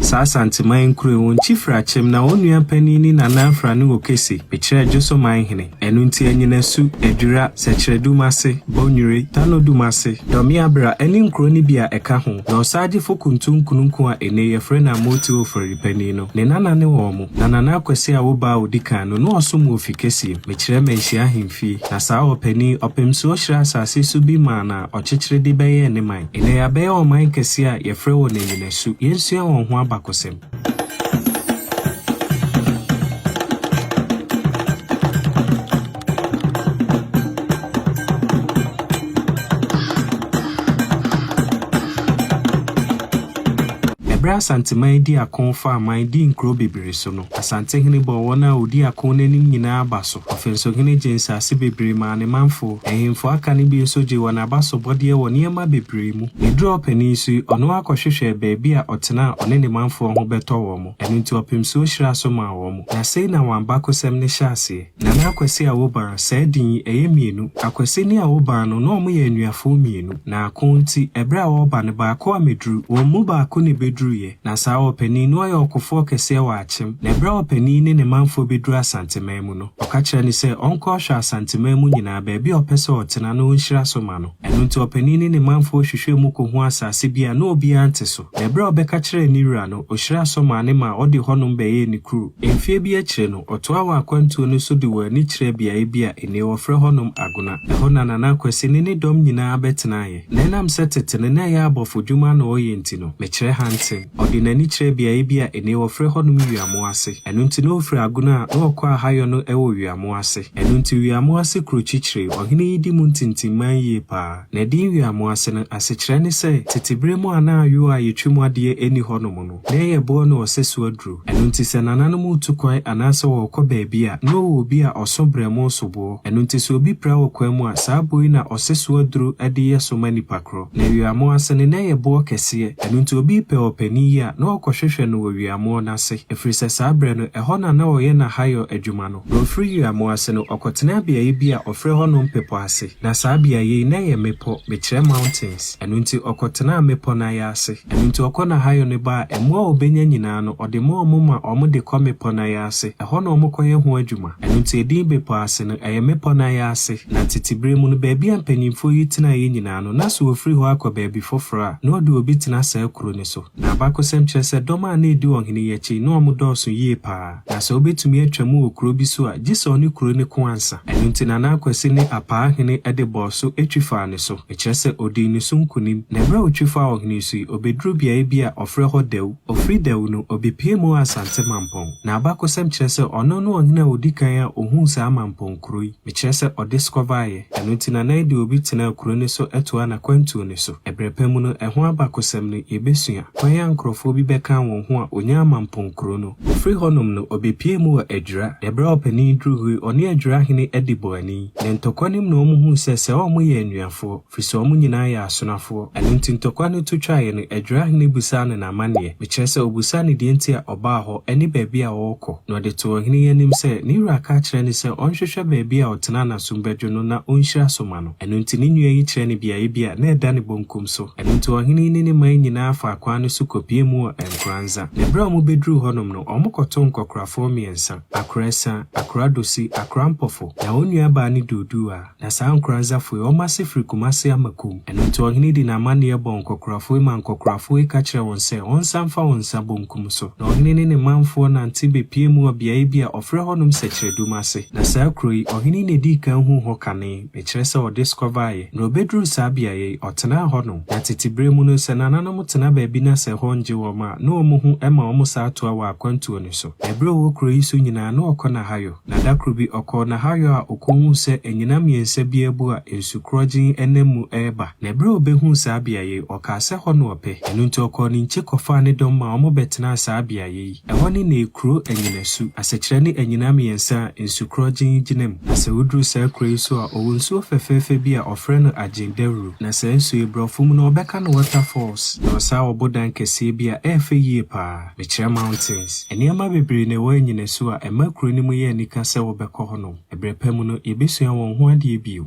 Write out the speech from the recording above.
Saa Asanteman nkuro yi, wɔn kyifiri akyem, na wɔn nua panin ne nananfra ne wɔ Kese, Mekyerɛ Adwoso man hene. Ɛno nti Anyinasu, Adwira, Sɛkyerɛdum ase, Bɔnwire, Tanodum ase, Dɔmeabera ne nkuro no bi a ɛka ho, na Ɔsagyefo Kuntu Nkununku a ene yɛfrɛ no Amooti Ofori panin no, ne nana ne wɔn, na Nana Akwasi a wo ba a ɔdi kan no, na ɔsom wɔ Ofikesiem, Mekyerɛ Manhyia ahemfie. Na saa ɔpanin, Ɔpemsuo hyerɛɛ asase so bi maa no a ɔkyekyere de bɛyɛɛ ne man. Ɛnnɛ yɛabɛyɛ ɔman kɛse a yɛfrɛ wɔn anyinasu. Yɛnsua wɔn ho abakɔsɛm. Ɛberɛ a Asanteman dii ako faa aman dii nkuro bebree so no, Asantehene bɔɔ wɔn a wɔdi ako no anim nyinaa aba so. Ɔfensohene gyee nsase bebree maa ne manfo. Ahemfo aka no bi nso gyee wɔn abasobɔdeɛ wɔ nneɛma bebree mu. Ɛduruu ɔpanin so yi, ɔno ara kɔhwehwɛɛ baabi a ɔtena a ɔne ne manfoɔ ho bɛtɔ wɔn. Ɛno nti ɔpemsuo hyiraa so maa wɔn. Na sei na wɔn abakosɛm no hyɛ aseɛ. Nana Akwasi Awobaa, saa din yi, ɛyɛ mmienu. Akwasi ne Awobaa no, na wɔyɛ anuafoɔ mmienu. Na ako nti, ɛberɛ a wɔreba no, baako ammɛduru. Wɔn mu baako na ɛbɛduruiɛ. Na saa ɔpanin no yɛ ɔkofoɔ kɛseɛ wɔ Akyem. Na ɛberɛ a ɔpanin yi ne ne manfoɔ bɛduru Asanteman mu no, ɔka kyerɛ no sɛ ɔnkɔ ɔhwɛ Asanteman mu nyinaa baabi a ɔpɛ sɛ ɔtena na ɔnhyira so ma no. Ɛno nti ɔpanin ne ne manfoɔ hwehwɛɛ mu kɔhuu asase bi a na obiara nte so. Na ɛberɛ a ɔbɛka kyerɛɛ ne wura no, ɔhyiraa so maa no maa ɔde hɔnom bɛyɛɛ ne kuro. Mfeɛ bi akyire no, ɔtoaa wɔn akwantuo no so de wɔn ani kyerɛɛ beaeɛ bi a nnɛ wɔfrɛ hɔnom Agona. Ɛhɔ na Nana Kwasi ne ne dɔm nyinaa bɛtenaeɛ. Na ɛnam sɛ tete no na ɛyɛ abɔfodwuma na ɔyɛ nti no, mekyerɛ Hanten. Ɔde n'ani kyerɛɛ beaeɛ bi a nnɛ wɔfrɛ hɔnom Wiamo ase. Ɛno nti na ɔfiri Agona a na ɔkɔ Ahayɔ no wɔ Wiamo ase. Ɛno nti Wiamo ase kuro kyikyire ɔhene yi di mu ntintimman yie pa ara. Na edin Wiamo ase no, asekyerɛ ne sɛ, tete berɛ mu a na ayoo a yɛtwi mu adeɛ nni hɔnom no, Na ɛyɛ boɔ ne ɔsɛso aduro. Ɛno nti sɛ nananom retu kwan anaasɛ wɔrekɔ baabi a, na ɔwɔ obi a ɔso brɛmoo soboɔ. Ɛno nti sɛ obi pira wɔ kwan mu a, saa boɔ yi na ɔsɛso aduro de yɛ so ma nipa korɔ. Na awiamoɔ ase no, na ɛyɛ boɔ kɛseɛ. Ɛno nti obi repɛ ɔpanin yi a, na ɔrekɔhwehwɛ no wɔ wiamoɔ no ase, ɛfiri sɛ saa berɛ no, ɛhɔ na na ɔyɛ n'ahayɔ adwuma no. Na ɔfiri wiamoɔ ase no, ɔkɔtenaa beaeɛ bi a wɔfrɛ hɔ Nompepɔ ase. Na saa beaeɛ yi, na ɛyɛ mmepɔ, mekyerɛ mountains. Ɛno nti ɔkɔtenaa mmepɔ no ae ase. Ɛno nti ɔkɔ n'ahayɔ no ba a, mmoa a ɔbɛnya nyinaa no, ɔde ma wɔn ma wɔde kɔ mmepɔ no ae ase. Ɛhɔ na wɔkɔyɛ ho adwuma. Ɛno nti edin Bepɔ Ase no, ɛyɛ mmepɔ no ae ase. Na tete bere mu no, baabi a mpanimfoɔ yi tenaeɛ nyinaa no, na sɛ wɔfiri hɔ akɔ baabi foforɔ a, na wɔde obi tena saa kuro no so. Na abakɔsɛm kyerɛ sɛ dɔm a na ɛdi ɔhene yi akyi yi, na wɔdɔɔso yie pa ara. Na sɛ obetumi atwa mu wɔ kurow bi so a, gye sɛ ɔne kurow no ko ansa. Ɛno nti na na Akwasi ne Apaa hene de bɔɔ so twi faa ne so, ɛkyerɛ sɛ odii ne so nkonim. Na bere a otwi faa ɔhene so yi, obeduruu beae bi a wɔfrɛ hɔ Dawu. Ofii Dawu no, obepue mu wɔ Asante Mampɔn. Na abakɔsɛm kyerɛ sɛ ɔno ne ɔhene a odi kan a ohuu saa Mampɔn kurow yi, mekyerɛ sɛ ɔdeskɔvaeɛ. Ɛno nti na na ɛde obi tenaa kurow no so toaa n'akwantuo no so. Ɛberɛ pa mu no, ɛho abakɔsɛm no, yebesua, kwan a nkurɔfoɔ bi bɛkaa wɔn ho a onyaa Mampɔn kurow no. Ofiri hɔnom no, obepue mu wɔ Adwira. Ne bere a ɔpanin duru hɔ yi, ɔne Adwira hene adi bɔ ani. Ne ntɔkwa no mu na wɔhuu sɛ sɛ wɔyɛ anuafoɔ, firi sɛ wɔn nyinaa yɛ asonafoɔ. Ɛno nti ntɔkwa no to twaeɛ no, Adwira hene bisaa no n'amanneɛ, mekyerɛ sɛ ɔbisaa no deɛ nti a ɔbaa hɔ ne baabi a ɔrekɔ. Na ɔde too ɔhene yi anim sɛ ne wura aka akyerɛ no sɛ ɔnhwehwɛ baabi a ɔtenaa n'asom bɛdwo no na ɔnhyira so ma no. Ɛno nti ne nua yi kyerɛ no beaeɛ bi a na ɛda ne bonkum so. Ɛno nti ɔhene yi ne ne man nyinaa faa kwan no so kɔpuee mu wɔ Nkoranza. Na berɛ a wɔbɛduruu hɔnom no, wɔkɔtoo nkɔkorafoɔ mmiɛnsa, Akorɛsa, Akoradosi, Akorampofo. Na wɔn nuabaa ne Duodua. Na saa Nkoranzafoɔ yi, wɔn ase firi Kumase ama Kum. Ɛno nti ɔhene yi de n'amanneɛ bɔɔ nkɔkorafoɔ yi maa nkɔkorafoɔ yi ka kyerɛɛ wɔn sɛ wɔnsan mfa wɔn nsa bonkum so. Na ɔhene ne ne manfoɔ nante bɛpuee mu wɔ beaeɛ bi a wɔfrɛ hɔnom Sɛkyerɛdum ase. Na saa kuro yi, ɔhene yi na ɛdii kan huu hɔ kane. Mekyerɛ sɛ ɔde sukɔ baeɛ. Na ɔbɛduruu saa beaeɛ yi, ɔtenaa hɔnom. Na tete berɛ mu no, sɛ nananom tena baabi na sɛ ɛhɔ nnye wɔn a, na wɔn ho ma wɔn saa toa wɔ akwantuo no so. Na berɛ a ɔwɔ kuro yi so nyinaa, na ɔkɔ Nahayɔ. Na da koro bi, ɔkɔɔ Nahayɔ a ɔkɔhuu sɛ anyina mmiɛnsa bi abu a nsu korɔgyenn nam mu reba. Na berɛ a ɔbɛhuu saa beaeɛ yi, ɔkaa sɛ hɔ na ɔpɛ. Ɛno nti ɔkɔɔ ne nkye kɔfaa ne dɔm ma wɔbɛtenaa saa beaeɛ yi. Ɛhɔ ne ne kuro anyinasu. Asɛkyerɛ ne anyina mmiɛnsa a nsukorɔgyen gyina mu. Na sɛ woduru saa kuro yi so a, ɔwɔ nsuo fɛfɛɛfɛ bi a ɔfrɛ no Agyen Dawuro. Na saa nsuo yi, borɔfo mu no, wɔbɛka no Water Falls. Na ɔwɔ saa ɔbodan kɛseɛ bi a ɛyɛ fɛ yie pa ara. Mekyerɛ mountains. Nneɛma bebree na ɛwɔ anyinasu a ɛma kuro no mu yɛ anika sɛ wobɛkɔ hɔnom. Ɛberɛ pa mu no, yɛbɛsua wɔn ho adeɛ bio.